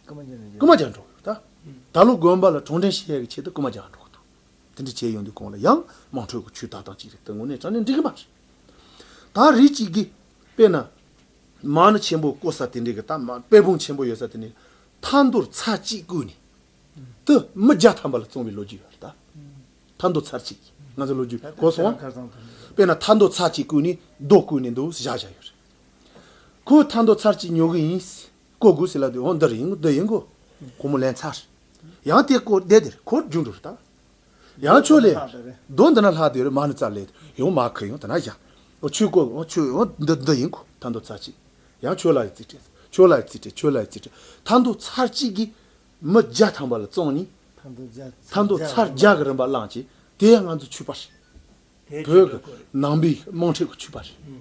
ཀུ་མ་ཅཱ་འགྲོ། ཀུ་མ་ཅཱ་འགྲོ། ད་ད་ལོ་དགོན་པ་ལ་གྲོང་བརྡལ་ཤེས་ཡག་གི་ཆེད་དུ་ཀུ་མ་ཅཱ་འགྲོ་གི་འདུག་དེ་འདྲ་བྱས་ཡོང་དུས་ཁོང་ལ་ཡང་དམངས་ཁྲོད་ཀྱི་ཆུའི་ལྟ་སྟངས་ཅིག་རེད་ད་ངོ་ནས་དྲ་གནས་འགྲིག་གི་མ་རེད། ད་རེ་གཅིག་གིས་དཔེར་ན། མ་ཎི་ཆེན་པོ་བརྐོ་ས་དེ་འདྲའི་གི་ད་མ་དཔལ་སྤུངས་ཆེན་པོ་ཡོད་ས་དེ་ནས་ཐ་མདོར་ཚར་གཅིག་བརྐོས་ནས་དུ་མི་བརྒྱ་ཐམ་པ་ལ་བཙོང་བའི་ལོ་རྒྱུས་ཡོད་རེད་ད། ཐ་མདོ་ཚར་གཅིག་ང་ཚོའི་ལོ་རྒྱུས་གོ་སོང་ཨ། དཔེར་ན་ཐ་མདོ་ཚར་གཅིག་བརྐོས་ནས་རྡོ་བརྐོས་ནས་འདུག་བཞག་བཞག་ཡོད་རེད། ཁོའི་མཐའ་འདོགས་ཚར་གཅིག་ཉོ་གི་ཡིན། བསྐོ་དགོས་ཟེར་ལབ་དུས་འོ་འདི་རེད་ཡིན་གོ་འདི་ཡིན་གོ། སྒོར་མོ་ལེན་ཚར། ཡང་དེ་སྐོར་བསྡད་དེར་ཁོར་རྒྱུགས་འགྲོ་རུ་བཏང། ཡང་ཆོས་ལས། རྡོ་འདི་ན་ལྷག་དེ་རུ་མར་ནི་རྩར་ལས། ཡང་མར་ཁུར་ཡང་དེ་ན་བཞག། འོ་ཆོས་སྐོར་འོ་ཆོས་འོ་འདི་འདི་ཡིན་གོ་མཐའ་འདོགས་ཚར་གཅིག། ཡང་ཆོས་ལ་ཡི་རྩིས་སྤྲད། ཆོས་ལ་ཡི་རྩིས་སྤྲད་ཆོས་ལ་ཡི་རྩིས་སྤྲད། མཐའ་འདོགས་ཚར་གཅིག་གིས། མི་བརྒྱ་ཐམ་པ་ལ་བཙོང་གཉིས། མཐའ་འདོགས་ཚར་བརྒྱ་གི་རིན་པ་བླངས་ཀྱིས་དེ་ཡང་ང་ཚོའི་ཆོས་པ་རེད། བོད་ཀྱི་ནང་པའི་དམངས་ཁྲོད་ཀྱི་ཆོས་པ་རེད།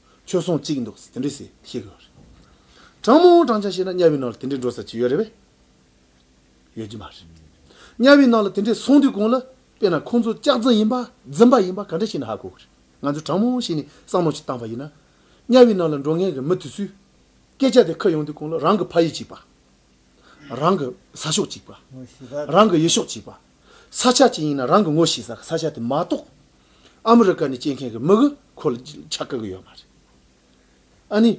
ཆོས་སྲུང་གཅིག་འདུག་ཟེར་དེ་འདྲི་ཟེར་ཤེས་དགོས་པ་རེད། དྲང་མོ་དྲང་བྱ་ཤེས་ན་དམྱལ་བའི་ནང་ལ་དེ་འདྲའི་འགྲོ་ས་ཅི་ཡོད་རེད་བས། ཡོད་ཀྱི་མ་རེད། དམྱལ་བའི་ནང་ལ་དེ་འདྲའི་སོང་དུས་གང་ལ་དཔེ་ན་ཁོང་ཚོ་ལྕགས་རྫི་ཡིན་པ་རྫིམ་པ་ཡིན་པ་ག་འདྲ་ཞིག་ན་ཧ་གོ་དགོས་རེད། ང་ཚོས་དྲང་མོ་ཤེས་ནས་བསམ་བློ་ཞིག་བཏང་བ་ཡིན་ན། དམྱལ་བའི་ནང་ལ་འགྲོ་མཁན་གྱི་མི་དེ་ཚོས། སྐད་ཆ་དེ་ཁ་ཡོང་དུས་གང་ལ་རང་གི་ཕ་ཡུལ་གཅིག་པ། རང་གི་ས་ཕྱོགས་གཅིག་པ། རང་གི་ཡུལ་ཤོག་གཅིག་པ། ས་ཆ་གཅིག་ཡིན་ན་རང་གི་ངོ་ཤེས་ས་ས་ཆ་དེ་མ་གཏོགས། ཨ་མི་རི་ཀ་ནས་སྐྱེས་མཁན་གྱི་མི་གི་ཁོ་ལ་ཆ་བཀག་གི་ཡོད་མ་རེད། ཨ་ནི།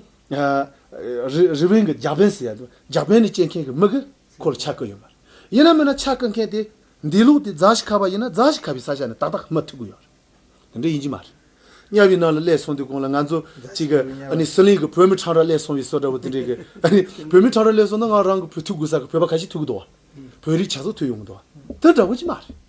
རི་བོན་གྱི་རྒྱ་བན་ཟེར་ཡ་དུ་རྒྱ་བན་ནས་སྐྱེས་མཁན་གྱི་མི་གི་ཁོ་ལ་ཆ་བཀག་ཡོད་མ་རེད། ཡིན་ན་མིན་ན་ཆ་བཀག་མཁན་དེ་འདི་ལུགས་དེ་རྫ་ཞི་ཁ་བ་ཡིན་ན་རྫ་ཞི་ཁ་བའི་ས་ཆ་ནས་ཏག་ཏག་སྨྲ་ཐུབ་གི་ཡོད་རེད། དེ་འདྲ་ཡིན་གྱི་མ་རེད། གཉའ་བའི་ནང་ལ་བསླས་སོང་དུས་གོང་ལ་ང་ཚོ་གཅིག་གི་ཨ་ནི་ཟི་ལིང་གི་བོད་མི་ཁྲང་ར་བསླས་སོང་བའི་སྲོལ་འདྲ་བོ་དེ་འདྲས་གི་ཨ་ནི་བོད་མི་ཁྲང་ར་བསླས་སོང་ན་ང་རང་གི་བུ་ཐུག་དགོས་ས་གི་བོད་པ་ག་ཞིག་ཐུག་གི་འདུག་བ། བོད་རིགས་ཆ་ཚོགས་ཐུག་ཡོང་གི་འདུག་བ། དེ་འདྲ་བོ་གཅིག་མ་རེད།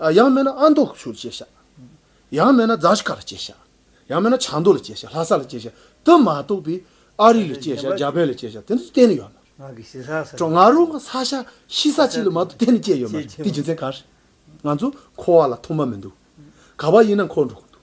ཡང་མེད་ན་ཨ་མདོ་ཆུ་ལ་སྐྱེལ་བྱ། ཡང་མེད་ན་རྫ་ཆུ་ཁ་ལ་སྐྱེལ་བྱ། ཡང་མེད་ན་བྱང་མདོ་ལ་སྐྱེལ་བྱ་ལྷ་ས་ལ་སྐྱེལ་བྱ་དེ་མ་གཏོགས་པའི་ཨ་རི་ལ་སྐྱེལ་བྱ་རྒྱ་བལ་ལ་སྐྱེལ་བྱ་དེ་ཚོ་གཏན་ནས་ཡོད་མ་རེད། ང་རང་གི་ས་ཆ་ཤི་ས་གཅིག་ལ་མ་གཏོགས་གཏན་ནས་སྐྱེལ་ཡོད་མ་རེད་དེ་རྒྱུ་མཚན་ག་རེད། ང་ཚོ་འཁོར་བ་ལ་ཐོག་མ་མི་འདུག་ག་པར་ཡིན་ན་འཁོར་འགྲོ་གི་འདུག།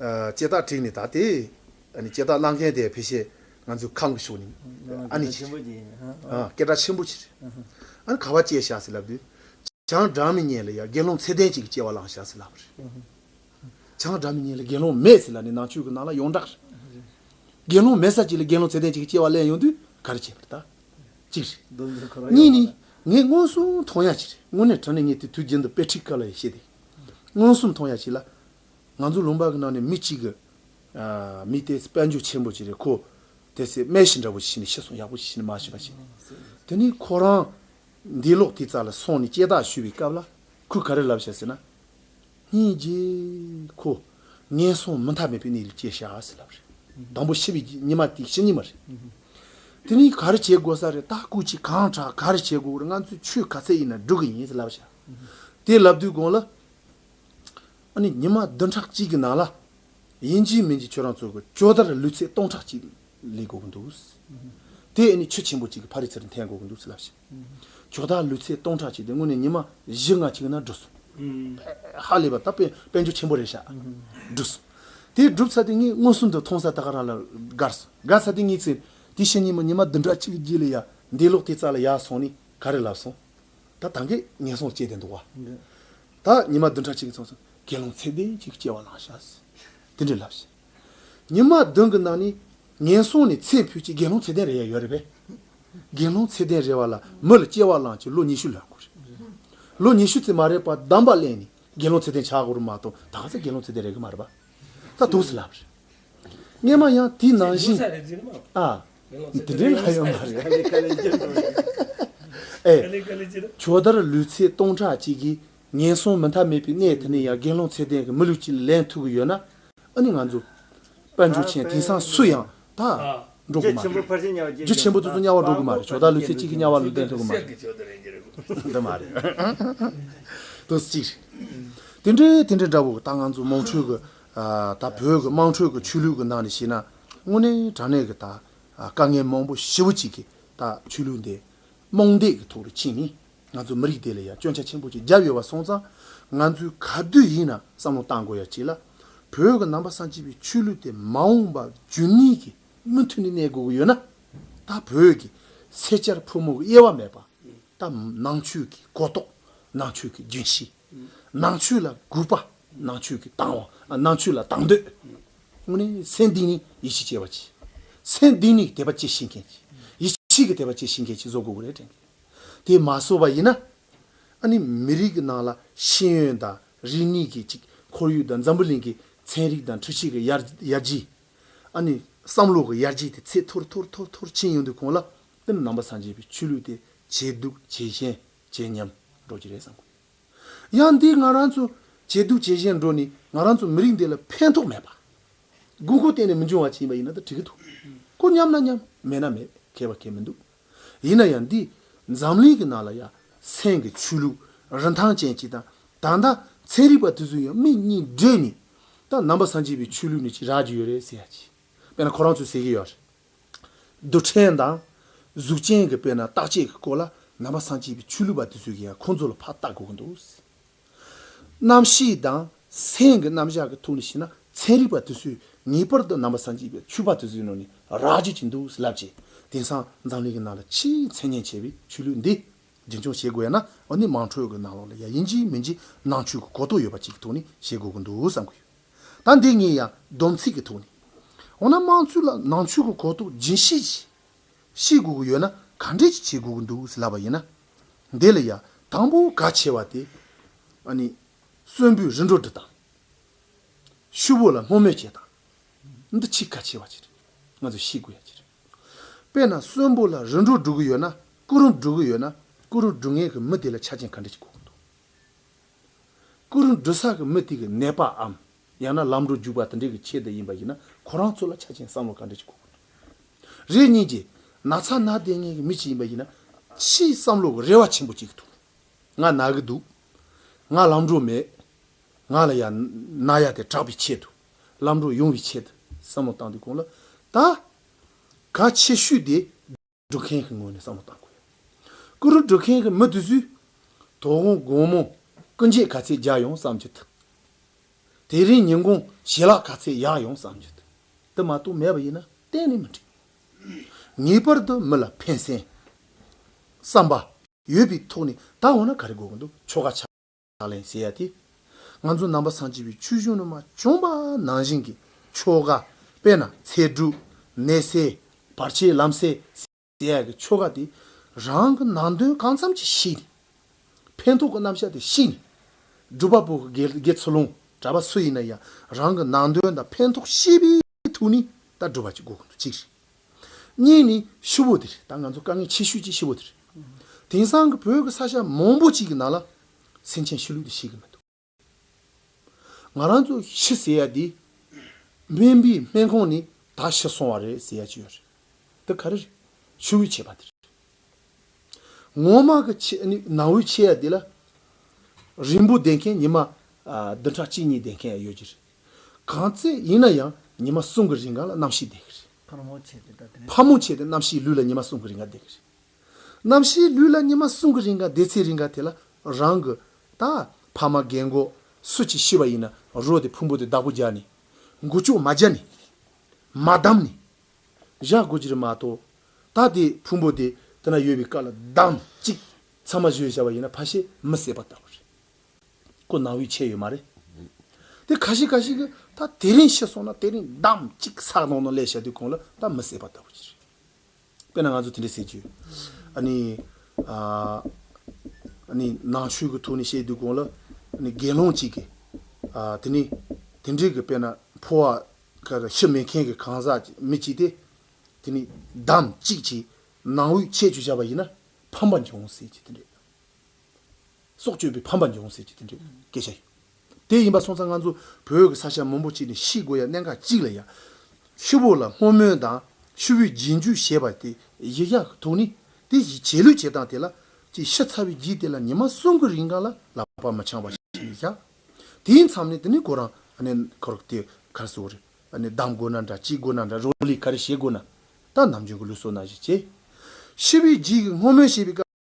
ལྕེ་ལྡག་འཁྲིགས་ནས་ད་དེ། ལྕེ་ལྡག་གནང་མཁན་དེ་ཕལ་ཆེར་ང་ཚོའི་ཁང་གི་ཕྱོགས་ནས་ཨ་ནི་ཆེ། སྐད་གྲགས་ཆེན་པོ་ཆེ། ཨ་ནི་ག་བ་ཅེས་བྱ་ཟེར་ལབ་དུས། བྱང་སྦྲང་མི་ཉན་ལ་ཡ་དགེ་སློང་ཚད་ལྡན་ཅིག་གིས་ཅེ་བ་ལང་བྱ་ཟེར་ལབ་པ་རེད། བྱང་སྦྲང་མི་ཉན་ལ་དགེ་སློང་མས་ཟེར་ལ་ནི་ནང་ཆོས་ཀྱི་ནང་ལ་ཡོངས་གྲགས་རེད། དགེ་སློང་མས་ས་ཅིག་ལ་དགེ་སློང་ཚད་ལྡན་ཅིག་གིས་ཅེ་བ་གླེང་ཡོང་དུས་ག་རེ་བྱེད་པར་བལྟ། གཅིག་རེད། གཉིས་ནི། ངས་མངོན་སུམ་མཐོང་ཡག་ཅིག་རེད་དངོས་གནས་དྲན་ནས་ངས་དེ་དུས་རྒྱུན་དུ་དཔེ་ཁྲིད་སྐབས་ལ་ཡང་བཤད་དེ། མངོན་སུམ་མཐོང་ཡ་གཅིག་ལ། ང་ཚོ་ལུང་པ་གི་ནང་ནས་མི་གཅིག་གི། མི་དེ་དཔལ་འབྱོར་ཆེན་པོ་ཅིག་རེད་ཁོ། དེ་སྲིད་རྨེ་ཤི་འདྲ་བོ་ཞིག་ནས་ཤི་སོང་ཡག་པོ་ཞིག་ཤི་ནས་མ་ཤི་བ་ཞིག་རེད། དེ་ནས་ཁོ་རང། འདས་ལོག་དེ་རྩ་ལ་སོང་ནས་སྐྱེས་རྟགས་ཞུ་བའི་སྐབས་ལ། ཁོས་ག་རེ་ལབ་བྱས་ཟེར་ན། སྙིང་རྗེ། ཁོ། ངན་སོང་མུ་མཐའ་མེད་པའི་གནས་ལ་སྐྱེས་ཤག་ཟེར་ལབ་རེད། དང་པོ་ཤི་བའི་ཉི་མ་དེ་ཤི་ཉི་མ་རེད། དེ་ནས་ག་རེ་བྱེད་དགོས་ས་རེད་ད་ཁོ་ཅིག་གང་དྲག་ག་རེ་བྱེད་དགོས་ཀྱི་རེད་ང་ཚོས་ཆོས་ག་ཚད་ཡིན་ན་སྒྲུབ་ཀྱི་ཡིན་ཟེར་ལབ་བྱས། དེ་ལབ་དུས་དགོང་ལ། ཨ་ནི་ཉི་མ་བདུན་ཕྲག་གཅིག་གི་ནང་ལ། ཡིན་གྱི་མིན་གྱི་ཁྱོད་རང་ཚོའི་གི་ཅོ་དར་ལུས་ཚད་སྟོང་ཕྲག་གཅིག་ལས་དགོས་གི་འདུག། དེ་ཨ་ནི་ཆུ་ཆེན་པོ་གཅིག་གི་ཕ་རི་ཚེར་འཐེན་དགོས་གི་འདུག་ལབ་ཤི། ཅོ་དར་ལུས་ཚད་སྟོང་ཕྲག་གཅིག་དེ་སྔོན་ནས་ཉི་མ་བཞི་ལྔ་གཅིག་ན་འགྲོ་སོང། ཕལ་ཧ་ལས་པ་ད་དཔལ་འབྱོར་ཆེན་པོ་རེད་ཤག། བསྒྲུབས་སོང། དེ་བསྒྲུབས་ཚར་དུས་ངས་མངོན་སུམ་དུ་མཐོང་ས་ད་ག་རང་ལ་དགར་སོང་དགར་ཚར་དུས་ངས་ཚེ་དེ་ཕྱི་ཉིན་མོ་ཉི་མ་བདུན་ཕྲག་གཅིག་གི་རྗེས་ལ་ཡ་འདས་ལོག་དེ་རྩ་ལ་ཡ་སོང་ནས་ག་རེ་ལབ་སོང། ད་ད་གེ་ངན་སོང་སྐྱེས་ཏེ་འདུག་བ། ད་ཉི་མ་བདུན་ཕྲག་གཅིག་གི་ཚོགས་སུ་དགེ་སློང་ཚད་ལྡན་གཅིག་སྐྱེ་བ་ལགས་ཤག། དེ་འདྲའི་ལབ་ཤི། ཉི་མ་བདུན་གྱི་ནང་ནས་ངན་སོང་ནས་ཚེ་འཕོས་ཀྱི་དགེ་སློང་ཚད་ལྡན་རེ་ཡ་ཡོད་རེད་པས། དགེ་སློང་ཚད་ལྡན་རེ་བ་ལ་མི་ལ་སྐྱེ་བ་ལང་གྱི་ལོ་ཉི་ཤུ་ལ་དགོས་རེད། ལོ་ཉི་ཤུ་ཚེ་མ་རེག་པ་གདམས་པ་གླེང་ནས་དགེ་སློང་ཚད་ལྡན་ཆགས་དགོས་རུ་མ་གཏོགས་ད་ག་ཚད་དགེ་སློང་ཚད་ལྡན་རེ་གི་མ་རེད་པ། ད་དུགས་སུ་ལབ་རེད། སྙེ་མ་ཡང་དེ་ནང་བཞིན། ཨ། དེ་འདྲའི་ལྷ་ཡོད་མ་རེད། ཇོ་དར་ལུས་ཚེ་སྟོང་ཕྲག་གཅིག་གིས་ངན་སོང་མི་མཐའ་མེད་པའི་གནས་དེ་ནས་ཡང་དགེ་སློང་ཚད་ལྡན་གྱི་མི་ལུས་གཅིག་ལ་ལེན་ཐུབ་གི་ཡོད་ན། ཨ་ནི་ང་ཚོ། དཔལ་འབྱོར་ཆེན་དེང་སང་སུ་ཡང་ད། འགྲོ་གི་མ་རེད། རྒྱུ་ཆེན་པོ་ཏུ་ཏུ་དམྱལ་བར་འགྲོ་གི་མ་རེད་ཇོ་དར་ལུས་ཚེ་གཅིག་གིས་དམྱལ་བར་ལེན་ཐུབ་གི་མ་རེད། འདི་མ་རེད། དུ་གཅིག་རེད། དེ་འདྲའི་དེ་འདྲའི་འདྲ་བོ་ད་ང་ཚོ་མོང་ཁྲོལ་གྱི་ད་བོད་ཀྱི་དམངས་ཁྲོད་ཀྱི་ཆོས་ལུགས་ཀྱི་ནང་ནས་བཤད་ན་དངོས་གནས་དྲང་གནས་ཀྱི་ད་དཀའ་ངལ་མང་པོ་ཞི་བོ་གཅིག་གིས་ད་ཆོས་ལུགས་འདི་རྨོངས་དད་ཀྱི་ཐོག་ཏུ་ཕྱིན་ནས་ང་ཚོ་མི་རིགས་དེ་ལ་ཡང་སྐྱོན་ཆ་ཆེན་པོ་གཅིག་བརྒྱབ་ཡོད་པ་སོང་ཙང་ང་ཚོས་ག་དུས་ཡིན་ན་བསམ་བློ་གཏང་དགོས་ཡ་གཅིག་ལ་བོད་ཀྱི་ནང་པ་སངས་སྐྱིད་པའི་ཆོས་ལུགས་དེ་མ་འོངས་པ་རྒྱུན་གནས་ཀྱི་མུ་མཐུད་ནས་གནས་དགོས་ཀྱི་ཡོད་ན་ད་བོད་ཀྱི་སེར་སྐྱར་ཕོ་མོ་གི་དབྱེ་བ་མེད་པ་ད་ནང་ཆོས་ཀྱི་གོ་རྟོགས་ནང་ཆོས་ཀྱི་རྒྱུན་ཤེས། ནང་ཆོས་ལ་སྒུག་པ། ནང་ཆོས་ཀྱི་དང་བ། ནང་ཆོས་ལ་དང་འདོད། དངོས་གནས་མཚན་དེ་ནི་ཡིད་ཆེས་བྱེད་པ་གྱིས། མཚན་དེ་ནི་དད་པ་བསྐྱེད་ཤེས་མཁན་གྱིས། ཡིད་ཆེས་ཀྱི་དད་པ་བསྐྱེད་ཤེས་མཁན་གྱིས་བཟོ་དགོས་རེད་དྲན་གི། དེ་མ་བཟོ་བ་ཡིན་ན། ཨ་ནི་མི་རིགས་ཀྱི་ནང་ལ་ཤེས་ཡོན་དང་རིག་གནས་ཀྱི་ཅིག་ཁོར་ཡུག་དང་འཛམ་བུ་གླིང་གི་ཚན་རིག་དང་འཕྲུལ་ཆས་ཀྱི་ཡར་རྒྱས། ཨ་ནི་བསམ་བློ་གི་ཡར་རྒྱས་དེ་ཚད་མཐོར་མཐོར་མཐོར་མཐོར་ཕྱིན་ཡོང་དུས་གོང་ལ་ཏིལ་ནམ་པ་སངས་རྒྱས་པའི་ཆོས་ལུགས་དེ་ཇེ་སྡུག་ཇེ་ཞན་བྱས་ཉམས་འགྲོ་གི་རེད་བསམ་གི་ཡོད། ཡང་འདིས་ང་རང་ཚོ་ཇེ་སྡུག་ཇེ་གཞན་འགྲོ་ནས་ང་རང་ཚོ་མི་རིགས་འདི་ལ་ཕན་ཐོགས་མེད་པ། དགོས་མཁོ་གཏན་ནས་མི་འབྱུང་བ་ཅིག་ཡིན་པ་ཡིན་ན་ད་དྲི་གི་འདུག་གོ་མཉམ་ན་མཉམ་མེད་ན་མེད་ཁེལ་བ་ཁེལ་མི་འདུག་ཡིན་ན་ཡང་འདིས་འཛམ་གླིང་གི་ནང་ལ་ཡ་མཚན་གི་ཆོས་ལུགས་རིན་ཐང་ཅན་ཅིག་དང་ད་ལྟ་ཚན་རིག་པ་དེ་ཚོས་ཡང་མིག་གཉིས་བགྲད་ནས་ད་ནང་པ་སངས་རྒྱས་པའི་ཆོས་ལུགས་ནི་ཅིག་རག་གི་ཡོད་རེད་ཟེར་ཡ་ཅིག་དཔེར་ན་ཁོ་རང་ཚོས་ཟེར་གི་ཡོད་རེད། རྡུལ་ཕྲན་དང། གཟུགས་ཅན་གྱི་དཔེར་ན་རྟག་ཆད་ཀྱི་སྐོར་ལ་ནང་པ་སངས་རྒྱས་པའི་ཆོས་ལུགས་པ་དེ་ཚོས་ཀྱིས་ཡང་ཁོང་ཚོ་ལ་ཕ་བཏགས་དགོས་ཀྱི་འདུག། གནམ་གཤིས་དང་སེམས་ཀྱི་རྣམ་གཞག་གི་ཐོག་ནས་བཤད་ན་ཚན་རིག་པ་དེ་ཚོས་ངེས་པར་དུ་ནང་པ་སངས་རྒྱས་པའི་ཆོས་པ་དེ་ཚོའི་ནང་ནས་རག་བརྗོད་ཀྱི་འདུག་ལབ་ཀྱི། དེང་སང་འཛམ་གླིང་གི་ནང་ལ་ཆེས་མཚན་སྙན་ཆེ་བའི་ཆོས་ལུགས་འདི་རྒྱུན་འཁྱོངས་བྱེད་དགོས་ན་འོ་ནི་དམངས་ཁྲོད་ཀྱི་ནང་ལོགས་ལ་ཡ་ཡིན་གཅིག་མིན་གཅིག་ནང་ཆོས་ཀྱི་གོ་རྟོགས་ཡོད་པ་གཅིག་གི་ཐོག་ནས་བྱེད་དགོས་ཀྱི་འདུག་བསམ་གྱི་ཡོད། ད་འདི་གཉིས་ཡང་སྡོམ་ཚིག་གི་ཐོག་ནས། འོ་ན་དམངས་གཙོའི་ལ་ནང་ཆོས་གོ་གོ་རྟོགས་སྦྱིན་བྱེད་ཅིག། ཤེས་དགོས་ཀྱི་ཡོད་ན་ག་འདྲས་ཅིག་བྱེད་དགོས་ཀྱི་འདུག་ཟེར་ལབ་པ་ཡིན་ན། འདི་ལ་ཡང་དང་པོ་ག་ཆེ་བ་དེ། ཨ་ནི། གསོན་པོའི་རི་འགྲོ་འདི་དང། ཤུ་བོ་ལ་སྔོ་སྨོད་བྱེད་དང། འདི་ཆིག་ག་ཆེ་བ་ཅིག་རེད་ང་ཚོས་ཤེས་དགོས་ཡ་ཅིག་རེད། དཔེར་ན་གསོན་པོ་ལ་རི་འགྲོ་བསྒྲུག་གི་ཡོད་ན་སྐུ་རུམ་བསྒྲུག་གི་ཡོད་ན་སྐུ་རུམ་བསྒྲུག་མཁན་གྱི་མི་དེ་ལ་ཆ་རྐྱེན་ག་འདྲས་ཅིག་དགོས་ཀྱི་འདུག། སྐུ་རུ་འབྲུ་ཟག་གི་མི་དེ་གི་ནད་པའམ་ཡང་ན་ལམ་འགྲོ་རྒྱུག་པ་དེ་འདྲས་ཀྱི་ཆེད་དུ་ཡིན་པ་ཡིན་ན་ཁོ་རང་ཚོ་ལ་ཆ་ཆེན་བསམ་བློ་ག་འདྲས་ཀྱི་གོ་དགོས་དོན་རེད་གཉིས་ཀྱི་ན་ཚ་ན་ལྟས་ངན་གྱི་མི་ཞིག་ཡིན་པ་ཡིན་ན་ཕྱིའི་བསམ་བློ་གི་རེ་བ་ཆེན་པོ་བྱེད་ཀྱི་འདུག་ང་ན་གི་འདུག་ང་ལམ་འགྲོ་མེད་ང་ལ་ཡང་ན་ཡ་དེ་དྲག་པའི་ཆེད་དུ་ལམ་འགྲོ་ཡོང་བའི་ཆེད་དུ་བསམ་བློ་བཏང་དུས་གོང་ལ་ད་ག་ཆེ་ཤོས་དེ། སྒྲུབ་མཁན་གྱི་ངོས་ནས་བསམ་བློ་བཏང་དགོས། ཀུ་རུ་སྒྲུབ་མཁན་གྱི་མི་དེ་ཚོས་དོ་དགོང་དགོང་མོ་ཀུན་མཇལ་ག་ཚད་རྒྱག་ཡོང་བསམ་རྒྱུ་དང། དེ་རིང་ཉིན་གུང་ཞལ་ལག་ག་ཚད་གཡག་ཡོང་བསམ་རྒྱུ་དེ་མ་གཏོགས་མེད་པ་ཡིན་ན་གཏན་ནས་མི་འགྲིག། ངེས་པར་དུ་མི་ལ་ཕན་སེམས། བསམ་པ། ཡོད་པའི་ཐོག་ནས་ད་འོ་ན་ག་རེ་དགོས་ཀྱི་འདུག་ཆོ་ག་ཆ། ལག་ལེན་བྱེད་ཡ་དེ། ང་ཚོ་ནང་པ་སངས་སྐྱིད་པའི་ཆུ་གཞུང་ནུ་མ་གྱོང་པ་ནང་བཞིན་གྱི་ཆོ་ག་དཔེར་ན་ཚེ་སྒྲུབ། ནད་སེལ། བར་ཆད་ལམ་སེལ། བྱེད་ཡ་གི་ཆོ་ག་དེ་རང་གི་ནང་དོན་གང་འཚམ་གྱི་ཤེས་ནས། ཕན་ཐོག་གི་རྣམ་བཞག་དེ་ཤེས་ནས། སྒྲུབ་པ་པོ་དགེ་ཚུལ་ལུང་གྲྭ་པ་སུ་ཡིན་ན་ཡང་རང་གི་ནང་དོན་དང་ཕན་ཐོག་ཤེས་པའི། གི་ཐུགས་ནི་ད་སྒྲུབ་པ་གཅིག་དགོས་ཀུན་ཏུ་གཅིག། གཉིས་ནི་ཤི་བོ་དེར་ད་ང་ཚོ་དཀའ་ངལ་ཆེ་ཤོས་ཀྱི་ཤི་བོ་དེར། དེང་སང་གི་བོད་ཀྱི་ས་ཆ་མང་པོ་གཅིག་གི་ནང་ལ་སེམས་ཅན་ཤི་ལུགས་དེ་ཤེས་ཀྱི་མི་འདུག། ང་རང་ཚོ་ཤི་ཟེར་ཡ་དེ་སྨན་པའི་སྨན་ཁང་ནས་ད་ཤི་སོང་བ་རེད་ཟེར་ཡ་ཅི་ཡོད་རེད། འདི་ག་རེ་རེད་ཤི་བོའི་ཆད་པ་དེ་རེད། ངོ་མ་གི་ཆད་ནི་ནང་བའི་ཆད་ཡ་དེ་ལ་རིང་པོ་བསྡད་མཁན་ཉི་མ་བདུན་ཕྲག་གཅིག་གཉིས་བསྡད་མཁན་ཡ་ཡོད་ཀྱི་རེད། གང་ཚེ་ཡིན་ན་ཡང་ཉི་མ་གསུམ་གྱི་རིང་ག་ལ་རྣམ་ཤེས་བསྡད་ཀྱི་རེད། ཕར་མོ་བྱས་ཏེ་ད་ཕར་མོ་བྱས་ཏེ་རྣམ་ཤེས་ལུས་ལ་ཉི་མ་གསུམ་གྱི་རིང་ག་བསྡད་ཀྱི་རེད། རྣམ་ཤེས་ལུས་ལ་ཉི་མ་གསུམ་གྱི་རིང་ག་བསྡད་ཚེ་རིང་ག་དེ་ལ་རང་གི། ད་ཕ་མ་རྒན་མགོ་སུ་གཅིག་ཤི་བ་ཡིན་ན་རོ་དེ་ཕུང་པོ་དེ་བདག་པོ་རྒྱག་ནི། མགོ་ལྕོག་མ་རྒྱག་ནི། མ་བསྡམས་ནི། བཞག་དགོས་ཀྱི་རེད་མ་གཏོགས། ད་དེ་ཕུང་པོ་དེ་དེ་ན་ཡོད་པའི་སྐབས་ལ་བདམས་ཅིག་ཚང་མ་བཞོས་བཞག་པ་ཡིན་ན་ཕ་ཞེས་མི་བསད་པ་ལྟ་བུ་རེད། ཁོ་ནང་དབུས་ཆད་ཡོད་མ་རེད། དེ་ག་ཞིག་ག་ཞིག་གི་ད་དེ་རིང་ཤི་སོང་ན་དེ་རིང་འདམ་གཅིག་སག་ནང་ན་ལས་བྱ་དུས་ཁོང་ལ་ད་མི་བསད་པ་ལྟ་བུ་ཞིག་རེད། དཔེར་ན་ང་ཚོ་དེ་འདྲས་བསད་རྒྱུ། ཨ་ནི། ཨ་ནི་ནང་ཆོས་ཀྱི་ཐོག་ནས་བཤད་དུས་ཁོང་ལ། ཨ་ནི་དགེ་སློང་གཅིག་གིས། ཨ་དེ་ནི། དེ་འདྲས་ཀྱི་དཔེར་ན་ཕོ་བ། ཁ་ར་ཤི་མེད་མཁན་གྱི་གང་ཟག་ཅིག་མི་གཅིག་དེ། དེ་ནི་འདམ་གཅིག་གིས་ནང་དབུས་ཆད་བྱུ་བྱ་བ་ཡིན་ན་ཕམ་པ་འབྱུང་སྲིད་ཅེས་དེ་འདྲས། སྲོག་གཅོད་པའི་ཕམ་པ་འབྱུང་ཟེར་གྱི་དེ་འདྲའི་སྐད་ཆ་ཡོད། དེ་ཡིན་པ་སོང་ཙང་ང་ཚོ་བོད་ཀྱི་ས་ཞབས་མང་པོ་ཅིག་ནས་ཤི་དགོས་ཡ་གནད་འགག་གཅིག་ལ་ཡ། ཆུ་བོ་ལ་སྔོ་སྨོན་དང་ཆུ་བོའི་རྒྱན་ཇུས་ཞེས་པ་དེ་ཡི་ཡ་གི་ཐུགས་ནི་དེ་ཡི་བྱས་ལུས་བྱས་སྟངས་དེ་ལ་ཅིག་ཤི་ཚར་བའི་རྗེས་དེ་ལ་ཉི་མ་གསུམ་གི་རིང་གང་ལ་ལ་བར་མི་འཆང་བ་ཞིག་ཡི་ཡ། དེའི་མཚམས་ནས་དེ་ནི་ཁོ་རང་ནས་ཁ་རོག་དེ་གར་སོ་རེ་གདམ་དགོས་ན་འདྲ་ཅིག་དགོས་ན་འདྲ་རོག་ལས་ག་རེ་བྱེད་དགོས་ན་ད་ནམ་རྒྱུན་གྱི་ལུས་སོ་ན་བཞིན་བྱེད། ཤི་བའི་རྗེས་ཀྱི་སྔོ་སྨོན་ཞེས་པའི་སྐབས།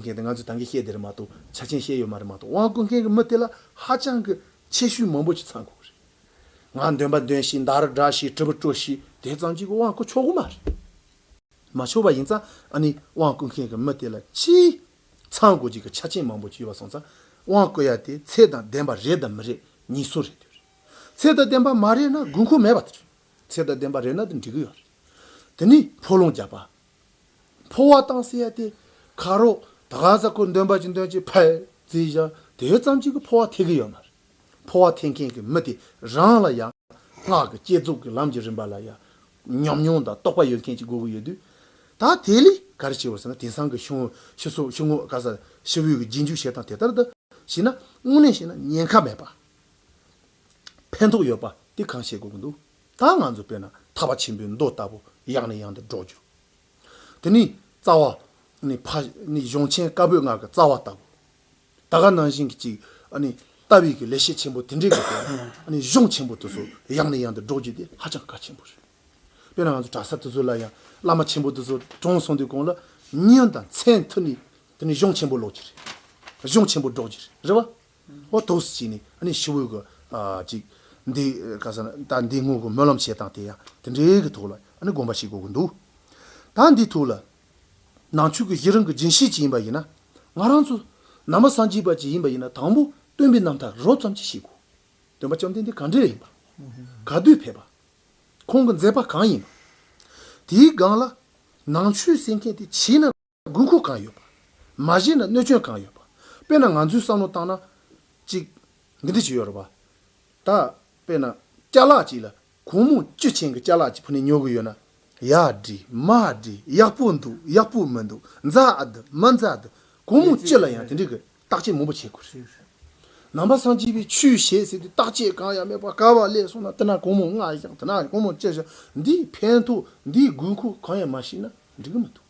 ཀུན་མཁྱེན་དེ་ང་ཚོས་དང་གི་ཤེས་དེ་རེད་མ་གཏོགས་ཆ་ཆེན་ཤེས་ཡོད་མ་རེད་མ་གཏོགས་དབང་ཀུན་མཁྱེན་གྱི་མི་དེ་ལ་ཧ་ཅང་གི་ཆེ་ཤོས་མང་པོ་ཞིག་ཚང་དགོས་གི་རེད། ང་འདོན་པ་འདོན་ཤིག་འདར་སྒྲ་ཤིག་དྲི་བ་དྲོ་ཤིག་དེ་ཙམ་གྱིས་དབང་ཀུན་ཆོག་གི་མ་རེད། མ་ཆོག་པ་ཡིན་ཙང་ཨ་ནི་དབང་ཀུན་མཁྱེན་གྱི་མི་དེ་ལ་ཅི་ཚང་དགོས་ཀྱི་གི་ཆ་ཆེན་མང་པོ་ཞིག་ཡོད་པ་སོང་ཙང་དབང་ཀུ་ཡ་དེ་ཚད་དང་ལྡན་པ་རེད་དམ་མི་རེད་གཉིས་སུ་རེད་དུས་རེད། ཚད་དང་ལྡན་པ་མ་རེད་ན་དགོས་མཁོ་མེད་པ་དེ་རེད། ཚད་དང་ལྡན་པ་རེད་ན་དེ་འགྲིག་གི་ཡོད་རེད། དེ་ནི་ཕོ་ལུང་རྒྱག་པ་འཕོ་བ་བཏང་ཟེར་ཡ་དེ་ག་རོ། ད་ག་ཟ་ཁོ་འདོན་པ་ཅི་འདོན་ཅི་ཕལ་ཙི་བཞག་དེ་ཙམ་གྱིས་ཀྱི་འཕོ་བ་ཐེག་གི་ཡོད་མ་རེད། འཕོ་བ་ཐེག་མཁན་གྱི་མི་དེ་རང་ལ་ཡང། སྔགས་ཀྱི་བསྐྱེད་རྫོགས་ཀྱི་ལམ་གྱི་རིམ་པ་ལ་ཡང། ཉམས་མྱོང་དང་རྟོགས་པ་ཡོད་མཁན་གྱི་དགོས་ཀྱི་ཡོད་དུས། ད་དེ་ལས་ག་རེ་བྱེད་འོས་ཟེར་ན་དེང་སང་གི་ཤི་བོ་ཤི་སོགས་ཤི་ངོ་ག་ཟ་ཤི་བོའི་གྱི་རྗེས་འཇུག་བྱེད་སྟངས་དེ་ལྟར་དུ་བྱས་ན་དངོས་གནས་བྱས་ན་ཉེན་ཁ་མེད་པ། ཕན་ཐོགས་ཡོད་པ་དེ་གང་བཤད་དགོས་ཀྱི་འདུག། ད་ང་ཚོ་དཔེར་ན་ཐར་པ་ཆེན་པོའི་མདོ་ལྟ་བུ་ཡང་ནས་ཡང་དུ་སྒྲོག་རྒྱུ། དེ་ནི་རྩ་བ། ནི་ཕ། ནི་གཞུང་ཆེན་བཀའ་པོད་ལྔ་གི་རྩ་བ་ལྟ་བུ། ད་ག་ནང་བཞིན་གྱི་ཅིག། ནི་ལྟ་བའི་གི་ལས་བྱེད་ཆེན་པོ་དེ་འདྲའི་གི་དོན། ནི་གཞུང་ཆེན་པོ་དེ་ཚོ་ཡང་ནས་ཡང་དུ་སྒྲོག་རྒྱུ་དེ་ཧ་ཅང་གལ་ཆེན་པོ་རེད། དཔེར་ན་ང་ཚོ་གྲྭ་ས་དེ་ཚོ་ལ་ཡང་བླ་མ་ཆེན་པོ་དེ་ཚོ་གྲོངས་སོང་དུས་གོང་ལ་བསྙོན་དང་མཚན་ཐུགས་ནི་དེ་ནི་གཞུང་ཆེན་པོ་ཀློག་རྒྱུ་རེད། གཞུང་ཆེན་པོ་སྒྲོག་རྒྱུ་རེད་རེད་བ། ཨོ་ཐོག་སུ་བྱས་ནས་ཨ་ཤི་བོད་ཀྱི། ཅིག། འདི། ཁ་སང། ད་འདི་སྔོན་གྱི་སྨོན་ལམ་བྱས་དང་དེ་ཡང་དེ་འདྲའི་གི་ཐོག་ལ་དགོངས་པ་ཞིག་དགོས་ཀྱི་འདུག། ད་འདི་ཐོག་ལ། ནང་ཆོས་ཀྱི་གཞི་རང་གི་སྦྱིན་བྱེད་ཅིག་ཡིན་པ་ཡིན་ན། ང་རང་ཚོ། ནང་པ་སངས་རྒྱས་པ་ཅིག་ཡིན་པ་ཡིན་ན་དང་པོ་སྟོན་པའི་རྣམ་ཐར་རོབ་ཙམ་ཅིག་ཤེས་དགོས། སྟོན་པ་བཅོམ་ལྡན་འདས་གང་འདྲའི་ཡིན་པ། ག་དུས་ཕེབས་པ། ཁོང་གི་མཛད་པ་གང་ཡིན་པ། དེའི་སྒང་ལ། ནང་ཆོས་གསན་མཁན་དེ་ཕྱིས་ན། དགོས་མཁོ་གང་ཡོད་པ། མ་གཞི་ན་གནོད་སྐྱོན་གང་ཡོད་པ། དཔེར་ན་ང་ཚོའི་བསམ་བློ་བཏང་ན། གཅིག། འདི་འདི་བྱེད་ཡོད་རེད་པ། ད། དཔེར་ན། སྐྱ་ལག་ཅིག་ལ། གུང་མོ་བཅུ་ཆེན་གྱི་སྐྱ་ལག་ཅིག་ཕུ་ནས་ཉོ་གི་ཡོད་ན། ཡག་འགྲིག། མ་འགྲིག། ཡག་པོ་འདུག། ཡག་པོ་མི་འདུག། མཛའ་འདི། མ་མཛའ་འདི། གུང་མོ་བཅུ་ལ་ཡང་དེ་འདྲའི་གི་བརྟག་དཔྱད་མང་པོ་བྱེད་དགོས་རེད། ནང་པ་སངས་རྒྱས་པའི་ཆོས་བྱེད་ཟེར་དུས་བརྟག་དཔྱད་གང་ཡང་མེད་པར་ག་བ་ལས་སོང་ན་དེ་ན་གུང་མོ་ལྔ་བཞག་དེ་ན་གུང་མོ་བཅུ་བཞག་འདིས་ཕན་ཐོགས་འདིས་དགོས་མཁོ་གང་ཡང་མ་ཤེས་ན་འགྲིག་གི་མི་འདུག།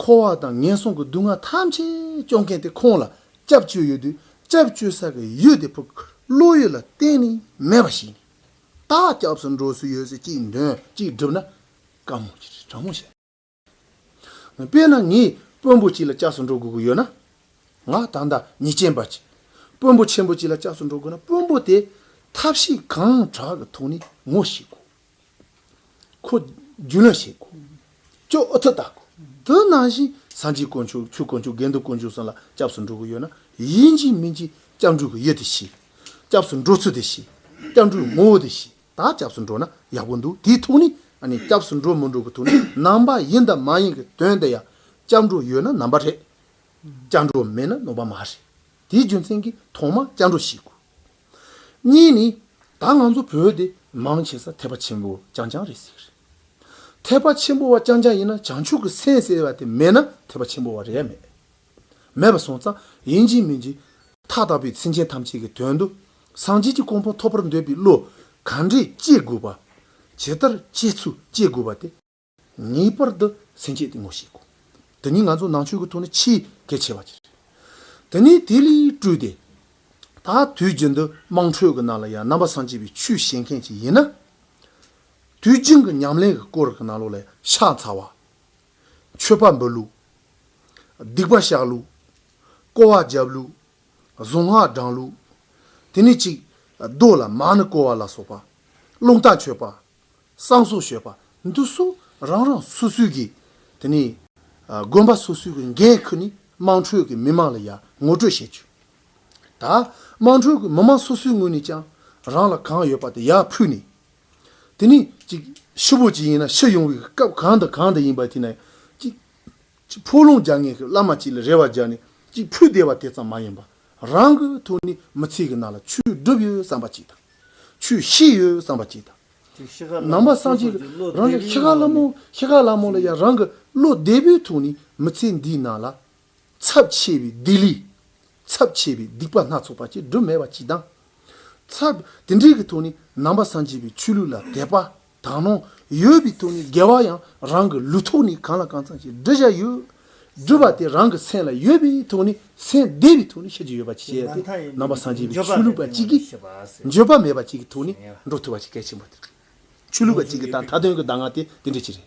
འཁོར་བ་དང་ངན་སོང་གི་སྡུག་བསྔལ་ཐམས་ཅད་སྐྱོང་མཁན་དེ་ཁོང་ལ་སྐྱབས་བཅོལ་ཡོད་དུས་སྐྱབས་བཅོལ་ས་གི་ཡུལ་དེ་ཕུག་བློ་ཡུལ་ལ་གཏན་ནས་མེད་པ་ཞིག་ནས་ད་སྐྱབས་སུ་འགྲོ་སྲོལ་ཡོད་ཚེ་གཅིག་འདོན་གཅིག་སྒྲུབ་ན་དཀའ་མོ་ཆེ་ཁྲ་མོ་ཆེ་རེད། དཔེར་ན་ངས་དཔོན་པོ་གཅིག་ལ་སྐྱབས་སུ་འགྲོ་དགོས་ཀྱི་ཡོད་ན། ང་ད་ལྟ་ཉི་ཅན་པ་གཅིག་དཔོན་པོ་ཆེན་པོ་གཅིག་ལ་སྐྱབས་སུ་འགྲོ་དགོས་ན་དཔོན་པོ་དེས་ཐབས་ཤེས་གང་དྲག་གི་ཐོག་ནས་ངོ་ཤེས་དགོས། ཁོ། རྒྱུན་ལ་ཞེས་ཁོ། ཅོ་ཨུ་ཐུ་བཏགས། དུ་ནང་བཞིན་ཟངས་ཀྱི་དཀོན་མཆོག་ཆུའི་དཀོན་མཆོག་དགེ་འདུན་དཀོན་མཆོག་སོགས་ལ་སྐྱབས་སུ་འགྲོ་གི་ཡོད་ན་ཡིན་གཅིག་མིན་གཅིག་སྐྱབས་འགྲོ་གི་ཡོད་དེ་ཤི། སྐྱབས་སུ་འགྲོ་ཚུལ་དེ་ཤི། སྐྱབས་འགྲོའི་ངོ་བོ་དེ་ཤི་ད་སྐྱབས་སུ་འགྲོ་ན་ཡག་པོ་འདུག་དེའི་ཐུགས་ནི་ཨ་ནི་སྐྱབས་སུ་འགྲོ་མི་འགྲོ་གི་ཐུགས་ནི་ནང་པ་ཡིན་དང་མ་ཡིན་གི་དོན་དེ་ཡང་སྐྱབས་འགྲོ་ཡོད་ན་ནང་པ་རེད། སྐྱབས་འགྲོ་མེད་ན་ནོངས་པ་མ་རེད། དེའི་རྒྱུ་མཚན་གྱིས་ཐོག་མར་སྐྱབས་འགྲོ་ཤི་དགོས། གཉིས་ནི། ད་ང་ཚོ་བོད་དེ་མང་ཆེ་ས་ཐེག་པ་ཆེན་པོ་རྐྱང་རྐྱང་རེད་ཟེར་གི་རེད། ཐེག་པ་ཆེན་པོ་བ་རྐྱང་རྐྱང་ཡིན་ན་བྱང་ཆུབ་ཀྱི་སེམས་ཟེར་བ་དེ་མེད་ན་ཐེག་པ་ཆེན་པོ་བ་རེད་མེད། མེད་པ་སོང་ཙང་ཡིན་གཅིག་མིན་གཅིག། མཐའ་དག་པའི་སེམས་ཅན་ཐམས་ཅད་ཀྱི་དོན་དུ་སངས་རྒྱས་ཀྱི་གོང་འཕང་ཐོབ་པར་འདོད་པའི་བློ་ག་འདྲས་སྐྱེ་དགོས་པ། ཇི་ལྟར་སྐྱེ་ཚུལ་སྐྱེ་དགོས་པ་དེ། ངེས་པར་དུ་སེམས་བསྐྱེད་གཏིང་མོ་ཞིག་དགོས། དེ་ནི་ང་ཚོ་ནང་ཆོས་ཀྱི་ཐོག་ནས་ཆེས་གལ་ཆེ་བ་ཅིག་རེད། དེ་ནས་དེ་ལས་སྤྲོས་ཏེ། ད་དུས་རྒྱུན་དུ་དམངས་ཁྲོད་ཀྱི་ནང་ལ་ཡང་རྣམ་པ་སངས་རྒྱས་པའི་ཆོས་བཤད་མཁན་ཞིག་ཡིན་ན། དུས་རྒྱུན་གྱི་ཉམས་ལེན་གྱི་སྐོར་གྱི་ནང་ལོགས་ལ་ཤ་ཚ་བ། ཆོས་པ་འབོད་ལུགས། སྡིག་པ་བཤགས་ལུགས། སྐོར་བ་རྒྱབ་ལུགས། གཟུངས་སྔགས་བགྲང་ལུགས། དེ་ནས་གཅིག་རྡོ་ལ་མ་ནི་བསྐོར་བ་ལ་སོགས་པ། ཀློང་རྟ་མཆོད་པ། བསང་གསོལ་ཞུས་པ་འདུག་གསུང་རང་རང་སོ་སོའི་གིས་དེ་ནས། དགོན་པ་སོ་སོའི་གི་འགན་ཁུར་ནས་དམངས་ཁྲོད་ཀྱི་མི་མང་ལ་ཡང་ངོ་སྤྲོད་བྱེད་ཆོག་ད། དམངས་ཁྲོད་ཀྱི་མི་མང་སོ་སོའི་ངོས་ནས་ཀྱང་རང་ལ་གང་ཡོད་པ་དེ་ཡར་ཕུལ་ནས། དེ་ནས་ཅིག་ཕྱི་བོད་ཀྱི་ཡིན་ན་ཕྱི་ཡོང་བའི་སྐབས་གང་དང་གང་དུ་ཡིན་པ་དེ་ནས་ཅིག། གཅིག་ཕུག་ལུང་རྒྱ་ངན་གྱི་བླ་མ་གཅིག་ལ་རེ་བ་རྒྱག་ནས་གཅིག་ཕུད་བསྡད་པ་དེ་ཙམ་མ་ཡིན་པར་རང་གི་ཐུགས་ནས་མི་ཚེ་གི་ནང་ལ་ཆོས་སྒྲུབ་ཡོད་བསམ་པ་གཅིག་དང། ཆོས་ཤེས་ཡོད་བསམ་པ་གཅིག་དང། ནང་པ་སངས་རྒྱས་ཀྱི་རང་ལས་ཤེས་དགའ་བླ་མོ་ཤེས་དགའ་བླ་མོ་ལ་ཡང་རང་གི་བློ་བདེ་པོའི་ཐུགས་ནས་མི་ཚེ་འདིའི་ནང་ལ། ཚབས་ཆེ་བའི་སྡིག་ལས། ཚབས་ཆེ་བའི་སྡིག་པ་སྣ་ཚོགས་པ་གཅིག་སྒྲུབ་མེད་པ་གཅིག་དང། ཚབས་དེ་འདྲའི་གི་ཐུགས་ནས་ནང་པ་སངས་རྒྱས་པའི་ཆོས་ལུགས་ལ་དད་པ། དག་ནོ། ཡོད་པའི་དོན་ནི་འགལ་བ་ཡང་རང་གི་ལུས་ཐོག་ནས་གང་ལ་གང་ཚང་ཞིག་འབྲི་བྱ་ཡོད། སྒྲུབ་པ་དེ་རང་གི་མཚན་ལ་ཡོད་པའི་དོན་ནི་མཚན་བདེ་བའི་དོན་ནི་ཤེས་བྱ་ཡོད་པ་ཅིག་བྱས་ཏེ་རྣམ་པ་སངས་རྒྱས་པའི་ཆོས་ལུགས་པ་གཅིག་གིས་འགྱོད་པ་མེད་པ་གཅིག་གི་དོན་ནི་འགྲོ་ཐུབ་པ་ཆེ་གལ་ཆེན་པོ་དེ་རེད། ཆོས་ལུགས་པ་གཅིག་གིས་ད་མཐའ་དོན་གྱི་གདམས་ངག་དེ་དེ་འདྲ་ཅིག་རེད།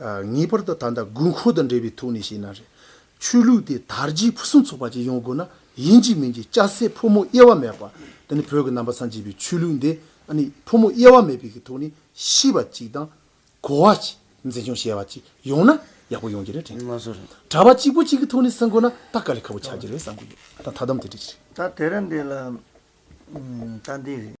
ངེས་པར་དུ་ད་ལྟ་དགོས་མཁོ་དང་འབྲེལ་བའི་ཐོག་ནས་བཤད་ན་རེད། ཆོས་ལུགས་དེ་དར་རྒྱས་ཕུན་སུམ་ཚོགས་པ་ཅིག་ཡོང་དགོས་ན་ཡིན་གཅིག་མིན་གཅིག་སྐྱ་སེར་ཕོ་མོ་དབྱེ་བ་མེད་པར་དེ་ནི་བོད་ཀྱི་རྣམ་པ་ཚང་གཅིག་པའི་ཆོས་ལུགས་འདི་ཨ་ནི་ཕོ་མོ་དབྱེ་བ་མེད་པའི་གི་ཐོག་ནས་ཤེས་པ་ཅིག་དང། གོ་བ་ཅིག་འཛིན་སྐྱོང་བྱེད་པ་ཅིག་ཡོང་ན་ཡག་པོ་ཡོང་གི་རེད་དྲན། གྲྭ་པ་གཅིག་པོ་གཅིག་གི་ཐོག་ནས་བསྲན་དགོས་ན་ད་ག་ལེ་ཁ་པོ་ཆགས་ཀྱི་རེད་བསམ་གི་ཡོད་ད་མཐའ་དམ་དེ་འདྲ་ཞིག་རེད། ད་དེ་རིང་འདི་ལ་ད་འདི་རེད།